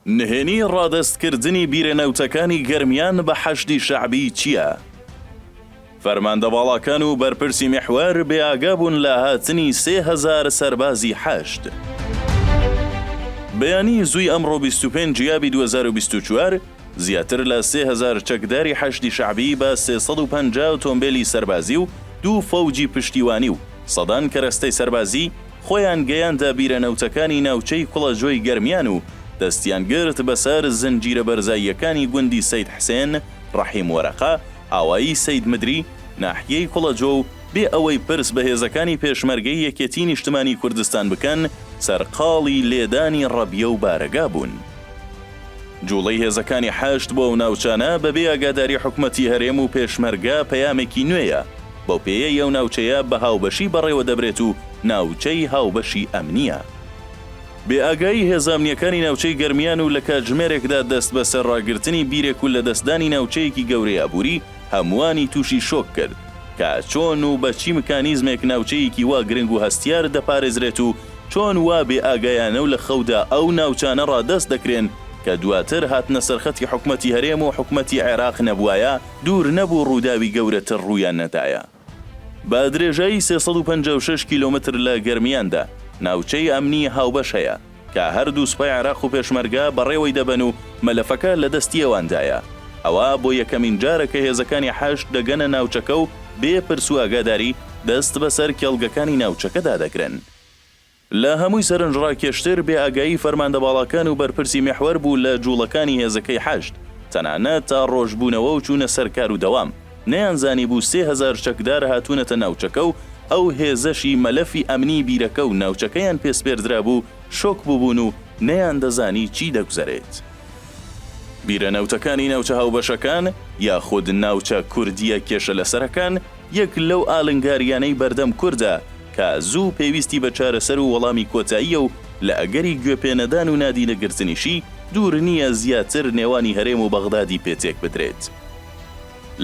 نهێنی ڕادەست کردنی بیرە نەوتەکانی گەرمیان بە حەشدی شەعبی چیە؟ فەرماندە باڵاکان و بەرپرسی میحوەر بێ ئاگا بوون لە هاتنی سێ هەزار سەربازی حەشد. بەیانی زووی ئەمڕۆ بیست و پێنج یابی دوو هەزار و بیست و چوار زیاتر لە سێ هەزار چەکداری حەشدی شەعبی بە سێ سەد و پەنجا ئۆتۆمبێلی سەربازی و دوو فەوجی پشتیوانی و سەدان کەرەستەی سەربازی خۆیان گەیاندە بیرە نەوتەکانی ناوچەی کوڵە جۆی گەرمیان و دەستیان گرت بەسەر زنجیرە بەرزاییەکانی گوندی سەید حسێن، ڕەحیم وەرەقە، ئاوایی سەید مدری، ناحیەی کوڵە جۆ و بێ ئەوەی پرس بە هێزەکانی پێشمەرگەی یەکێتی نیشتمانی کوردستان بکەن سەرقاڵی لێدانی ڕەبیە و بارەگا بوون. جوڵەی هێزەکانی حەشد بۆ ئەو ناوچانە بەبێ ئاگاداری حکومەتی هەرێم و پێشمەرگە پەیامێکی نوێیە، بەو پێیەی ئەو ناوچەیە بە هاوبەشی بەڕێوە دەبرێت و ناوچەی هاوبەشی ئەمنییە. بێ ئاگایی هێزە ئەمنییەکانی ناوچەی گەرمیان و لە کاتژمێرێکدا دەست بەسەر ڕاگرتنی بیرێک و لەدەستدانی ناوچەیەکی گەورەی ئابووری هەمووانی تووشی شۆک کرد کە چۆن و بە چی مکانیزمێک ناوچەیەکی وا گرنگ و هەستیار دەپارێزرێت و چۆن وا بێ ئاگایانە و لە خەودا ئەو ناوچانە ڕادەست دەکرێن کە دواتر هاتنە سەرخەتی حکومەتی هەرێم و حکومەتی عێراق نەبوایە دوور نەبوو ڕووداوی گەورەتر ڕوویان نەدایە. بە درێژایی سێ سەد و پەنجا و شەش کیلۆمەتر لە گەرمیاندا ناوچەی ئەمنیی هاوبەش هەیە کە هەردوو سوپای عێراق و پێشمەرگە بەڕێوەی دەبەن و مەلەفەکە لە دەستی ئەواندایە ئەوە بۆ یەکەمین جارە کە هێزەکانی حەشد دەگەنە ناوچەکە و بێ پرس و ئاگاداری دەست بەسەر کێڵگەکانی ناوچەکەدا دەگرن. لە هەمووی سەرنجڕاکێشتر، بێ ئاگایی فەرماندە باڵاکان و بەرپرسی میحوەر بوو لە جوڵەکانی هێزەکەی حەشد، تەنانەت تا ڕۆژبوونەوە و چوونە سەر کار و دەوام، نەیانزانیبوو سێ هەزار چەکدار هاتوونەتە ناوچەکە و ئەو هێزەشی مەلەفی ئەمنی بیرەکە و ناوچەکەیان پێ سپێردرابوو، شۆک بووبوون و نەیاندەزانی چی دەگوزەرێت. بیرە نەوتەکانی ناوچە هاوبەشەکان، یاخود ناوچە کوردییە کێشەلەسەرەکان، یەک لەو ئالنگارییانەی بەردەم کوردە کە زوو پێویستی بە چارەسەر و وەڵامی کۆتاییە و لە ئەگەری گوێ پێ نەدان و نادینە گرتنیشی دوور نییە زیاتر نێوانی هەرێم و بەغدادی پێ تێک بدرێت.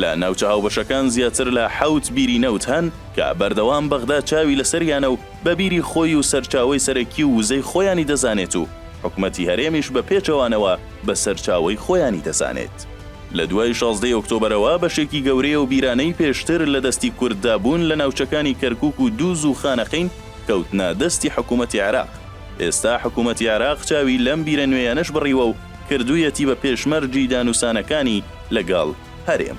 لە ناوچە هاوبەشەکان زیاتر لە حەوت بیری نەوت هەن کە بەردەوام بەغدا چاوی لە سەریانە و بە بیری خۆی و سەرچاوەی سەرەکی و وزەی خۆیانی دەزانێت و حکومەتی هەرێمیش بە پێچەوانەوە بە سەرچاوەی خۆیانی دەزانێت. لە دوای شازدەی ئۆکتۆبەرەوە بەشێکی گەورەی ئەو بیرانەی پێشتر لە دەستی کورددا بوون لە ناوچەکانی کەرکووک و دووز و خانەقین کەوتنە دەستی حکوومەتی عێراق. ئێستا حکوومەتی عێراق چاوی لەم بیرە نوێیانەش بڕیوە و کردوویەتی بە پێشمەرجی دانوسانەکانی لەگەڵ هەرێم.